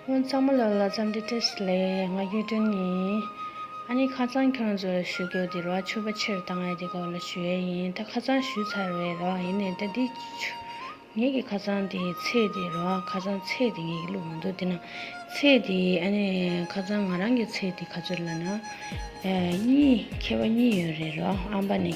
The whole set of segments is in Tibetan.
ཁོང་ཚང་མ་ལ་ལ་ཙམ་འདི་ཏི་སི་ལས་ང་རྒྱུས་སྤྲོན་ཡིན། ཨ་ནི་ཁ་ཙང་ཁྱོད་ཚོ་ལ་ཞུ་རྒྱུ་འདིར་བ་ཆོས་པ་ཕྱིར་བཏང་ཡ་དེ་སྐོར་ལ་ཞུ་ཡ་ཡིན་ད་ཁ་ཙང་ཞུས་ཚར་བའི་རོགས་ཡིན་ནའི་ད་འདི་ཆུ་ངེད་ཀྱི་ཁ་ཙང་དེ་ཚེས་དེ་རོགས་ཁ་ཙང་ཚེས་དེ་ངེད་ཀྱི་ལུག་མ་འདུག་དེ་ན་ཚེས་དེ་ཨ་ནི་ཁ་ཙང་ང་རང་གི་ཚེས་དེ་ག་ཚོད་ལ་ན་གཉིས་ཁྱེད་བ་གཉིས་ཡོད་རེད་རོགས་ཨམ་པ་ནི།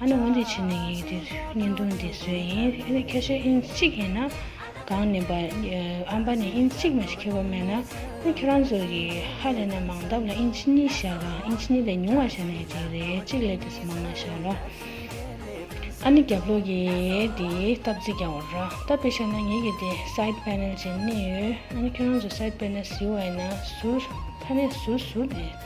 ཨ་ནི་འོན་ཏེ་ཕྱི་ནས་ངེད་ཀྱི་དེ་བརྙན་ཐུང་འདི་བཟོས་ཡིན་ཨེ་ནི་ཁ་ཤས་ཨིན་གཅིག་ཡིན་ན་གང་ནི་བ་ཨམ་པ་ནི་ཨིན་གཅིག་མ་ཞིག་ཁྱེད་བ་མེད་ན་ཨོ་ཁྱེད་རང་ཚོ་གི་ཧ་ལས་ན་མང་སྟབས་ལ་ཨིན་ཆི་གཉིས་བཞག་གམ་ཨིན་ཆི་གཉིས་ལས་ཉུང་བ་བཞག་ན་ཡག་གི་རེད་གཅིག་ལས་དེ་སུ་མང་ན་བཞག་རོ། ཨ་ནི་རྒྱབ་ལོག་གི་དེ་སྟབས་རྩིས་རྒྱག་བར་རོ་སྟབས་པས་བཞག་ན་ངེད་ཀྱི་དེ side panel ཅན་གནས་ཡོད་ཨ་ནི་ཁྱེད་རང་ཚོ side panel ཟིལ་བ་ཡིན་ན་ཟུར་ཕ་ནས་ཟུར་ཟུར་ནས།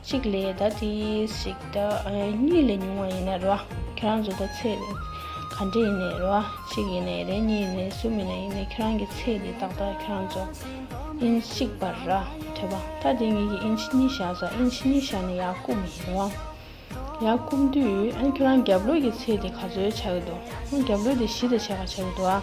གཅིག་ལས་ད་དེ་ཞིག་ད་གཉིས་ལས་ཉུང་བ་ཡིན་ན་རེད་བ། ཁྱེད་རང་ཚོ་ད་ཚེ་རེད་ག་འདྲེ་ཡིན་ནའི་རེད་བ་གཅིག་ཡིན་ནའི་རེད་གཉིས་ཡིན་ནའི་གསུམ་ཡིན་ནའི་ཡིན་ནའི་ཁྱེད་རང་གི་ཚེ་དེ་ཏག་ཏག་ཁྱེད་རང་ཚོ་ཨིན་གཅིག་པ་རེད་བ་ད་དེ་གཉིས་ཀྱི་ཨིན་ཆི་གཉིས་བཞག་ས་ཨིན་ཆི་གཉིས་བཞག་ནས་ཡར་བསྐུབ་མི་ཡིན་རེད་བ། ཡར་བསྐུབ་དུས་ཨ་ཁྱེད་རང་རྒྱབ་ལོས་ཀྱི་ཚེ་དེ་ག་ཚོད་བྱ་གི་འདུག་ཨ་རྒྱབ་ལོས་དེ་བཞི་ད་བྱས་ག་བྱ་གི་འདུག་ཨ།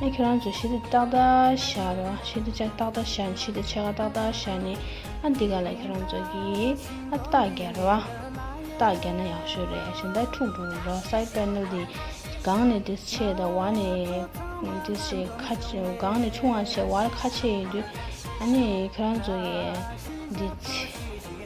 ནས་ཁྱོད་རང་ཚོ་ཤིན་ཏུ་ཏག་ཏག་བཞག་རོགས་ཤིན་ཏུ་ཅག་ཏག་ཏག་བཞག་ནས་ཤིན་ཏུ་ཕྱེད་ཀ་ཏག་ཏག་བཞག་ནས་ཨ་འདི་ག་ལ་ཁྱོད་རང་ཚོ་གིས་ཨ་སྟག་རྒྱག་རོགས་ཨ་སྟག་རྒྱག་ན་ཡག་ཤོས་རེད་ཞིན་ཏག་འཁྲུག་འགྲོ་གི་རོགས་སའི་དཔལ་ནོར་འདི་གང་ནས་འདི་ཆེ་དང་བར་ནས་འདི་ཆེ་ཁ་གང་ནས་ཆུང་བ་ཆེ་བར་ཁ་ཆེ་ཡོད་དུས་ཨ་ནི་ཁྱོད་རང་ཚོ་གིས་འདི་ཚེ།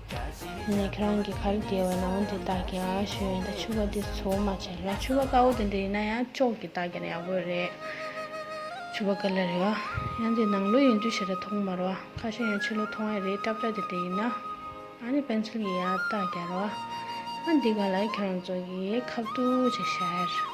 ནས་ཁྱེད་རང་གི་ཁ་རུ་དེད་བའི་ན་བུན་དེ་དག་གིས་ཨ་ཞོད་ཡིན་ད་ཆུ་བ་དེ་ཚོ་མ་བྱེད་ལ་ཆུ་བ་དཀར་བོ་དེ་འདྲ་ཡིན་ན་ཡང་ཅོག་གིས་བཏགས་ཀྱང་ཡག་པོ་རེད། ཆུ་བ་དཀར་ལ་རེད་བ། ཡང་དེ་ནང་ལོ་ཡིན་དུས་ཞེ་དྲག་མཐོང་མ་རུང་བ་ཁ་ཤས་ཡང་ཕྱི་ལོ་མཐོང་ཡ་རེད་སྐྲ་བཀྲ་དེ་འདྲ་ཡིན་ན། ཨ་ནི་པན་ཚུལ་གྱིས་ཡར་བཏགས་ཀྱང་རེད་བ། ཨ་འདི་ག་ལ་ཁྱེད་རང་ཚོ་གིས་ཁ་བཏུགས་ཅིག་བྱས།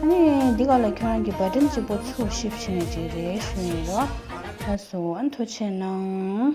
ཨ་ནི་འདི་ག་ལ་ཁྱོད་རང་གི་བ་དྲིན་ཅིག་པོ་ཚུར་ཤི་བྱིན་ནས་ཅིག་རེད་ཞུ་ཡིན་རོ། ལགས་སོ་ཨ་མཐོ་ཆེ་གནང།